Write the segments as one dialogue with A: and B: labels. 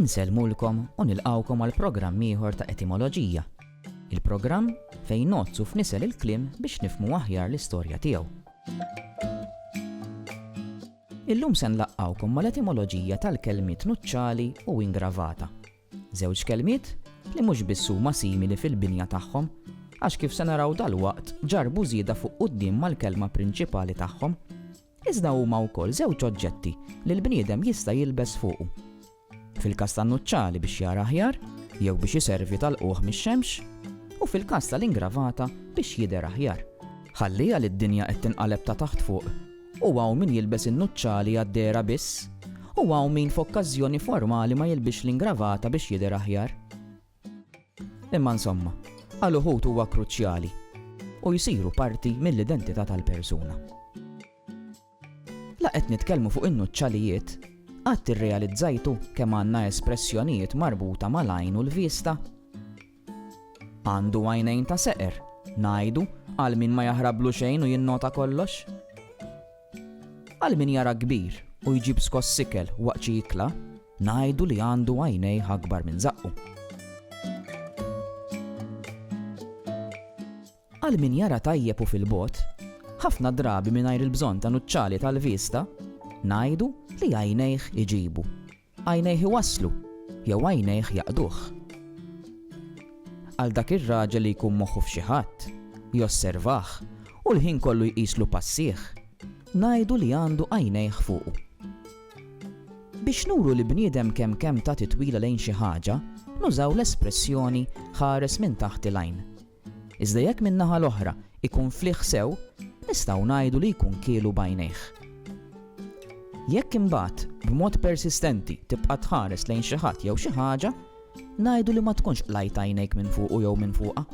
A: Insellmulkom
B: u nilqgħukom għal programm ieħor ta' Etimoloġija, il-programm fejn ngħoddsu f'nisel il-kliem biex nifhmu aħjar l-istorja tiegħu. Illum se nlaqqgħukom mal-etimoloġija tal-kelmiet nuċċali u ingravata. Żewġ kelmiet li mhux biss huma simili fil-binja tagħhom, għax kif se naraw dal-waqt ġarbu żieda fuq quddiem mal-kelma prinċipali tagħhom Iżda huma wkoll żewġ oġġetti li l-bniedem jista' jilbes fuqu. Fil-każ tan-nuċċali biex jara aħjar, jew biex iservi ta' lqugħ mix-xemx, u fil-każ tal-ingravata biex jidher aħjar. Ħalliha li d-dinja qed tinqaleb ta' taħt fuq, u hawn min jilbes in-nuċċali għad-dehra biss, u hawn min f'okkażjoni formali ma jilbisx l-ingravata biex jidher aħjar. Imma insomma, għal uħud huwa kruċjali u jsiru parti mill-identità tal-persuna. La qed nitkellmu fuq in-nuċċalijiet, qatt irrealizzajtu kemm għandna espressjonijiet marbuta mal-għajn u l-vista? Għandu għajnejn ta' seqer, ngħidu, għal min ma jaħrablu xejn u jinnota kollox? Għal min jara kbir u jġib skoss ikel waqt xi ikla, ngħidu li għandu għajnejh akbar minn żaqqu. Għal min jara tajjeb u fil-bogħod, ħafna drabi mingħajr il-bżonn ta' nuċċali tal-vista, ngħidu li għajnejh iġibu. Għajnejh iwasslu, jew għajnejh jaqduh? Għal dak ir-raġel li jkun moħħu f'xi ħadd, josservah, u l-ħin kollu jqislu passieh, ngħidu li għandu għajnejh fuqu. Biex nuru li bniedem kemm kemm ta titwila lejn xi ħaġa, nużaw l-espressjoni ħares minn taħt il-għajn. Iżda jekk min-naħa l-oħra jkun fliħ sew, nistgħu ngħidu li jkun kielu b'għajnejh. Jekk imbagħad b'mod persistenti tibqa' tħares lejn xi ħadd jew xi ħaġa, ngħidu li ma tkunx qlajt għajnejk minn fuqu jew minn fuqha.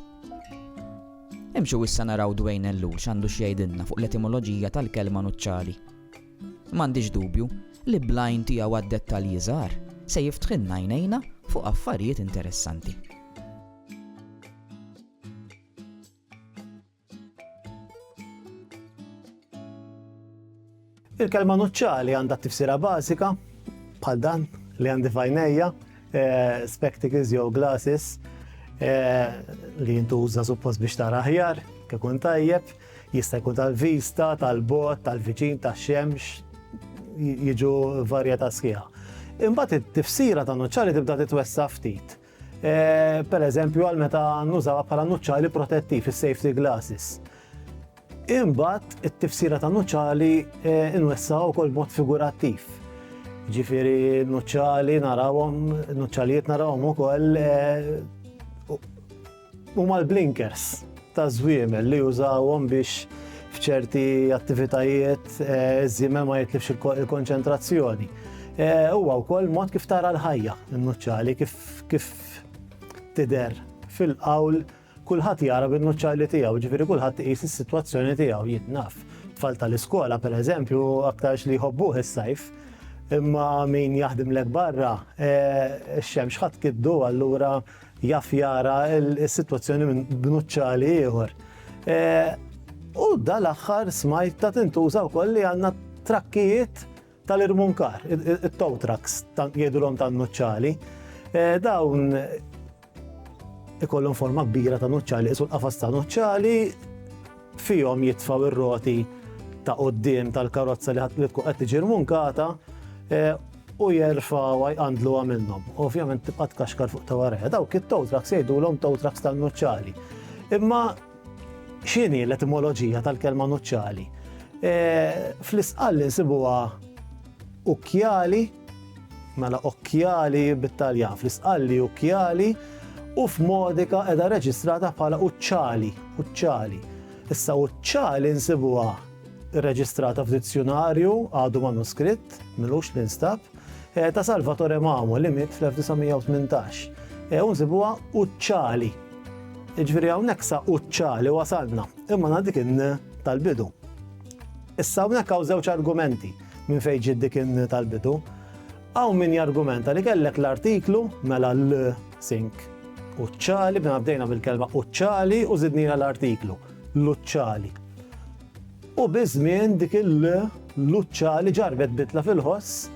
B: Imxu issa naraw Dwayne Ellul x'għandu x'jgħidilna fuq l-etimoloġija tal-kelma nuċċali. M'għandix dubju li blajn tiegħu għad-dettalji żgħar se jiftħilna għajnejna fuq affarijiet interessanti.
C: Il-kelma nuċċali għandha tifsira bażika bħal dan li għandi fajnejja, eh, spectacles jew glasses eh, li jintuża suppost biex tara aħjar, kikun tajjeb, jista' jkun tal-vista, tal-bot, tal-viċin, tax-xemx, jiġu varjetà sħiħa. Imbagħad it-tifsira ta' nuċċali tibda titwessa ftit. Per eżempju, għal meta nużawha bħala nuċċali protettiv is-safety glasses. Imbagħad it-tifsira ta' nuċċali inwessaw ukoll b'mod figurattiv. Ġifieri nuċċali narawhom, nuċċalijiet narawhom ukoll Huma l-blinkers taż-żwiemel li jużawhom biex f'ċerti attivitajiet iż-żiemel ma jitlifx il-konċentrazzjoni. Huwa wkoll mod kif tara l-ħajja n-nuċċali kif tidher fil-qawl kulħadd jara bin-nuċċali tiegħu, ġifieri kulħadd iqis is-sitwazzjoni tiegħu jien naf. Tfal tal-iskola pereżempju aktarx li jħobbuh is-sajf imma min jaħdimlek barra x-xemx ħadd kiddu allura jaf jara s-sitwazzjoni minn bnuċċali ieħor. E, u dal-aħħar smajt ta' tintuża wkoll li għandna trakkijiet tal-irmunkar, it-tow trucks, jgħidulhom tan-nuċċali. E, dawn ikollhom forma kbira ta' nuċċali, isu l-qafas ta' nuċċali fihom jitfaw ir-roti ta' qoddim tal-karozza li tkun qed tiġi rmunkata e, u jerfgħuha jqandluha minnhom. Ovvjament tibqa' tkaxkar fuq ta' warajha. Dawk it-tow trucks jgħidulhom tow trucks tan-nuċċali. Imma x'inhi l-etimoloġija tal-kelma nuċċali? E, fl-isqalli nsibuha ukkjali, mela okkjali bit-Taljan, fl-isqalli ukkjali, u f'modika edha reġistrata bħala uċċali, uċċali. Issa uċċali nsibuha irreġistrata f'dizzjunarju għadu manuskritt, m'ilux li nstab, eh, ta' Salvatore Mamo li miet fl-1918. Eh, u nsibuha uċċali. Iġviri hawnhekk sa uċċali wasalna, imma na dik tal-bidu. Issa hawnhekk hawn żewġ argumenti minn fejn ġid dik tal-bidu. Hawn min jargumenta li kellek l-artiklu mela l-sink uċċali, bina bdejna bil-kelma uċċali u zidnina l-artiklu. Luċċali. U biż-żmien dik il-l Luċċali ġarrbet bidla fil-ħoss,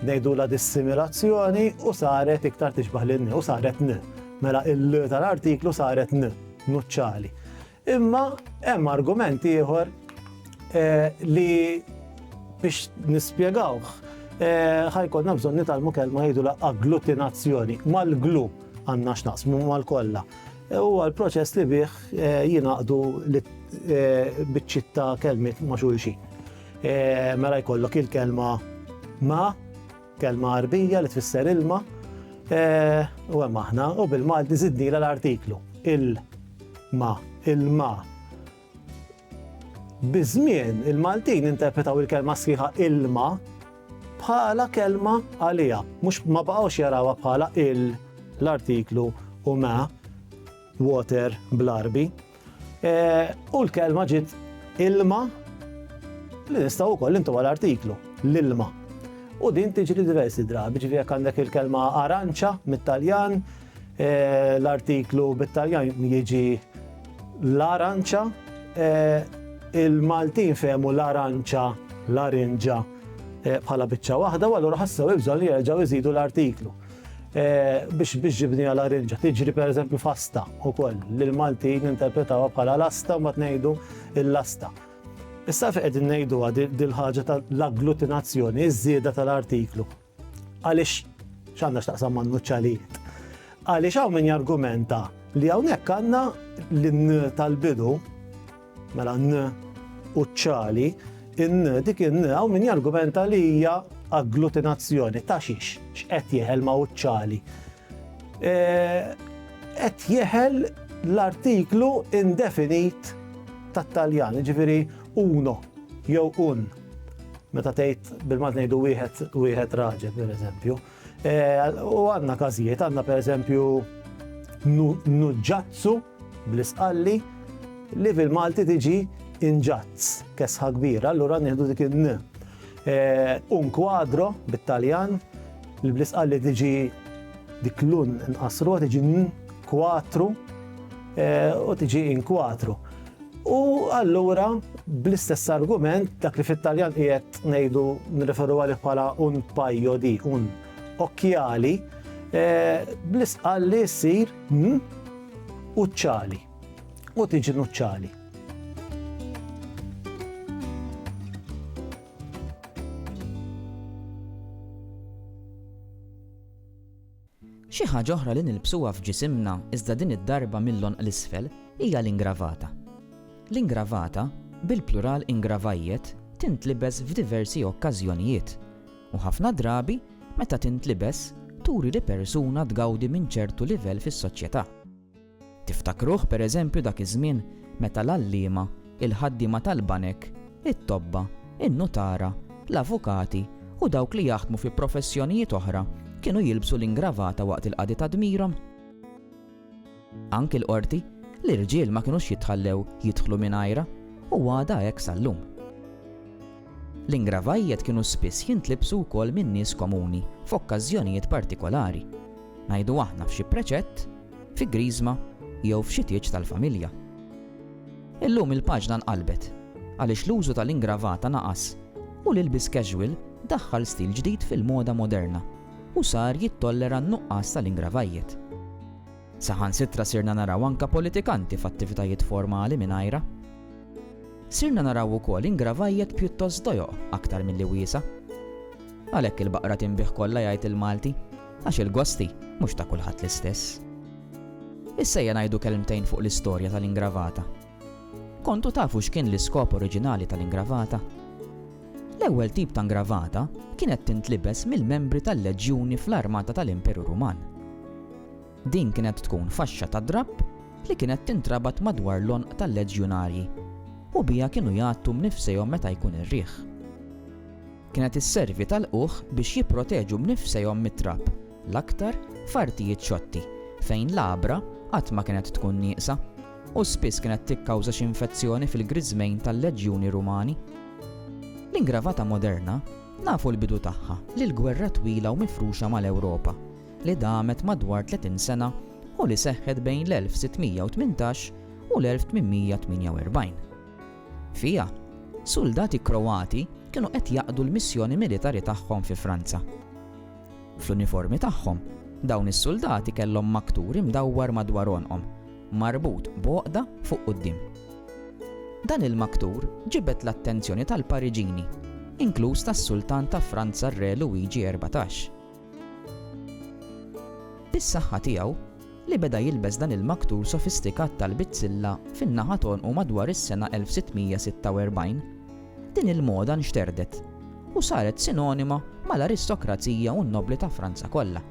C: ngħidulha dissimilazzjoni, u saret iktar tixbaħ lin-n, u saret n. Mela il-l tal-artiklu saret n, Nuċċali. Imma hemm argument ieħor eh, li biex nispjegawh eh, ħajkonna bżonn nitalmu kelma jgħidulha agglutinazzjoni mal-glu għandna x'naqsmu mal-kollha. Huwa l-proċess li bih jingħaqdu biċċiet ta' kelmiet ma' xulxin. Mela jkollok il-kelma ma, kelma Għarbija li tfisser ilma, u hemm aħna, u bil-Malti żidnilha l-artiklu, il-ma, il-ma. Biż-żmien, il-Maltin interpretaw il-kelma sħiħa ilma bħala kelma għaliha, mhux ma baqgħux jarawha bħala il, l-artiklu, u ma, water, bl-Għarbi. U l-kelma ġiet ilma li nistgħu wkoll intu għal artiklu, l-ilma. U din tiġri diversi drabi, ġifieri jekk għandek il-kelma aranċa mit-Taljan, L-artiklu bit-Taljan jiġi l-aranċa, il-Maltin fehmu l-aranċa, l-arinġa bħala biċċa waħda, u allura ħassew il-bżonn li jerġgħu jżidu l-artiklu. Biex biex ġibnija l-arinġa, tiġri per eżempju fasta u koll, li l-Maltin interpretawa bħala l-asta u ma tnejdu l-asta. Issa fejn qegħdin ngħiduha dil-ħaġa tal-agglutinazzjoni, iż-żieda tal-artiklu. Għaliex x'għandha x'taqsam ma' nuċċalijiet? Għaliex hawn min jargumenta li hawnhekk għandna l-n tal-bidu, mela n u ċali, in dik in hawn min jargumenta li hija agglutinazzjoni ta' xiex, x'qed jeħel ma' uċċali. E, qed jeħel l-artiklu indefinit tat-Taljan, ġifiri uno jew un. Meta tgħid bil-Malti ngħidu wieħed wieħed raġel, pereżempju. Eh, u għandna każijiet, għandna pereżempju nuġġazzu bl-isqalli li fil-Malti tiġi inġazz, kesħa kbira, allura nieħdu dik in eh, Un kwadro bit-Taljan, li bl-isqalli tiġi dik l-un nqasru, tiġi kwatru eh, u tiġi inkwatru. U allura, bl-istess argument, dak li fit-Taljan qiegħed ngħidu nirreferu għalih bħala un paio di, un occhiali, eh, bl-isqalli ssir n u ċali. U tiġi nuċċali.
B: Xi ħaġa oħra li nilbsuha f'ġisimna iżda din id-darba mill-għonq 'l isfel hija l-ingravata. L-ingravata, bil-plural ingravaiet, tintlibes f'diversi okkażjonijiet, u ħafna drabi meta tintlibes turi li persuna tgawdi minn ċertu livell fis-soċjetà. Tiftakruh pereżempju dak iż-żmien meta l-għalliema, il-ħaddiema tal-banek, it-tobba, in-nutara, l-avukati u dawk li jaħdmu fi professjonijiet oħra kienu jilbsu l-ingravata waqt il-qadi ta' dmirhom? Anki l-qorti, l-irġiel ma kinux jitħallew jidħlu mingħajrha u għadha hekk sal-lum. L-ingravajjet kienu spiss jintlibsu wkoll minn nies komuni f'okkażjonijiet partikolari, ngħidu aħna f'xi preċett, fi griżma jew f'xi tieġ tal-familja. Illum il-paġna nqalbet għaliex l-użu tal-ingravata naqas u l-ilbies casual daħħal stil ġdid fil-moda moderna u sar jittollera n-nuqqas tal-ingravajjet. Saħansitra sirna naraw anke politikanti f'attivitajiet formali mingħajrha. Sirna naraw ukoll ingravajjet pjuttost dojoq aktar milli wiesgħa. Għalhekk il-baqra tinbigħ kollha jgħid il-Malti, għax il-gosti mhux ta' kulħadd l-istess. Issa ejja ngħidu kelmtejn fuq l-istorja tal-ingravata. Kontu tafu x'kien l-iskop oriġinali tal-ingravata? L-ewwel tip ta' ngravata kienet tintlibes mill-membri tal-leġjuni fl-armata tal-Imperu Ruman. Din kienet tkun faxxa ta' drapp li kienet tintrabat madwar l-għonq tal-leġjunarji u biha kienu jgħattu b'nifsejhom meta jkun ir-riħ. Kienet isservi ta' lqugħ biex jipproteġu b'nifsejhom mit-trab, l-aktar f'artijiet xotti fejn l-għabra qatt ma kienet tkun nieqsa. u spiss kienet tikkawża xi infezzjoni fil-griżmejn tal-leġjuni Rumani. L-ingravata moderna nafu l-bidu tagħha lil gwerra twila u mifruxa mal-Ewropa li damet madwar 30 sena u li seħħet bejn l-1618 u l-1848. Fiha, suldati Kroati kienu qed jaqdu l-missjoni militari tagħhom fi Franza. Fl-uniformi tagħhom, dawn is-suldati kellhom maktur imdawwar madwar għonqhom, marbut b'għoqda fuq quddiem. Dan il-maktur ġibed l-attenzjoni tal-Pariġini, inkluż tas-Sultan ta' Franza r-Re Luigi Erbatax. Bis-saħħa tiegħu, li beda jilbes dan il-maktul sofistikat tal-bizzilla fin-naħa t'għonqu madwar is-sena 1646. Din il-moda nxterdet u saret sinonima mal-aristokrazija u n-nobbli ta' Franza kollha.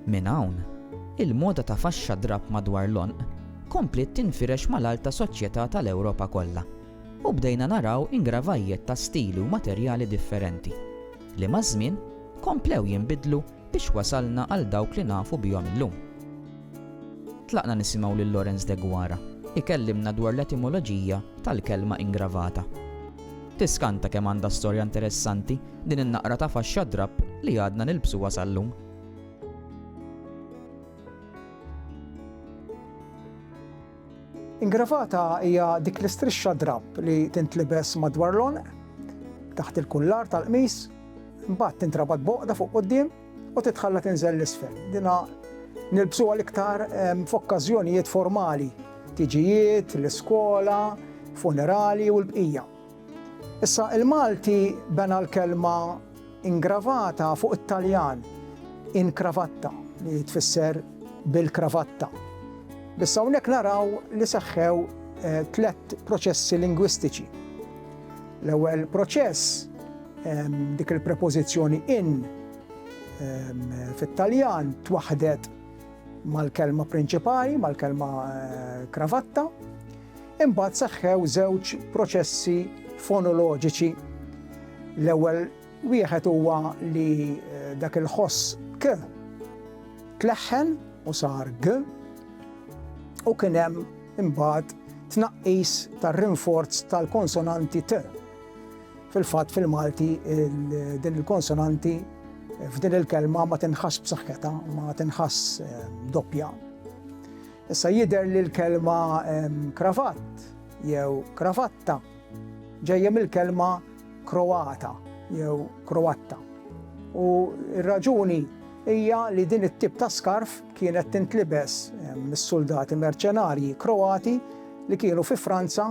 B: Minn hawn, il-moda ta' faxxa drapp madwar l-għonq kompliet tinfirex mal-alta soċjetà tal-Ewropa kollha, u bdejna naraw ingravajjet ta' stili u materjali differenti, li maż-żmien komplew jinbidlu biex wasalna għal dawk li nafu bihom illum. Tlaqna nisimgħu lil Lawrence Deguara jkellimna dwar l-etimoloġija tal-kelma ingravata. Tiskanta kemm għandha storja interessanti din in-naqra ta' faxxa drapp li għadna nilbsuha sal-lum.
D: Ingravata hija dik l-istrixxa drapp li tintlibes madwar l-għonq, taħt il-kullar tal-qmis Imbagħad tintrabat b'għoqda fuq quddiem u titħalla tinżel 'l isfel. Dinha nilbsuha l-iktar f'okkażjonijiet formali, tiġijiet, l-iskola, funerali u l-bqija. Issa il-Malti bena l-kelma ingravata fuq it-Taljan in cravatta li tfisser bil-kravatta. Biss hawnhekk naraw li seħħew tliet proċessi lingwistiċi. L-ewwel proċess Dik il-prepożizzjoni in fit-Taljan twaħħdet mal-kelma prinċipali, mal-kelma kravatta, imbagħad seħħew żewġ proċessi fonoloġiċi. L-ewwel wieħed huwa li eh, dak il-ħoss k tleħħen u sar g u kien hemm imbagħad tnaqqis tar-rinforz tal-konsonanti t. Fil-fatt fil-Malti din il-konsonanti f'din il-kelma ma tinħass b'saħħetha, ma tinħass ehm, doppja. Issa jidher li l-kelma ehm, kravatt jew kravatta ġejja mill-kelma kroata jew kroatta. U r-raġuni hija li din it-tip ta' skarf kienet tintlibes ehm, mis-soldati merċenarji kroati li kienu fi Franza